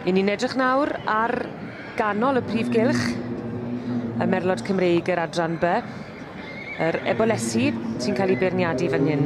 I ni'n edrych nawr ar ganol y prif gylch, y merlod Cymreig yr adran B, yr ebolesi sy'n cael ei beirniadu fan hyn.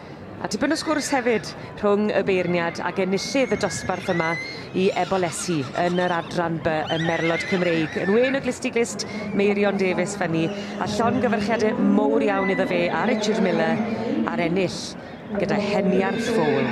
A tipyn o sgwrs hefyd rhwng y beirniad ac enillydd y dosbarth yma i Ebolesi yn yr adran by ym Merlod Cymreig, yn wên o glust i glust, Meirion Davies Funny, a llongyfarchiadau mowr iawn iddo fe a Richard Miller ar ennill gyda Heniar Fowl.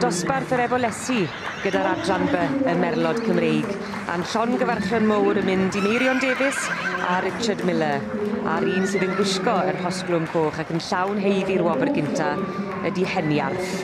Dosbarth yr Efolesi gyda'r adran by y Merlod Cymreig, a'n llongyfarchion mowr yn mynd i Meirion Davies a Richard Miller, a'r un sydd yn gwisgo yr hosglwm coch ac yn llawn heidd i'r wobr gynta ydi Heniarth.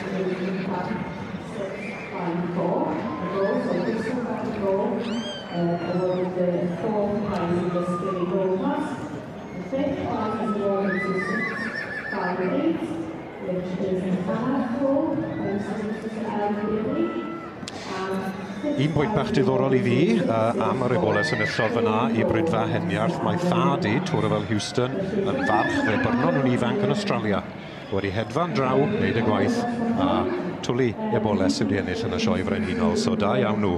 Un pwynt bach diddorol i fi uh, am yr ebola sefyllod fyna i Brydfa Heniarth. Mae thad i, Twrafel Houston, yn farch fe byrnon nhw'n ifanc yn Australia. Wedi hedfan draw, wneud y gwaith, a twli ebola sydd wedi ennill yn y sioe frenhinol. So da iawn nhw.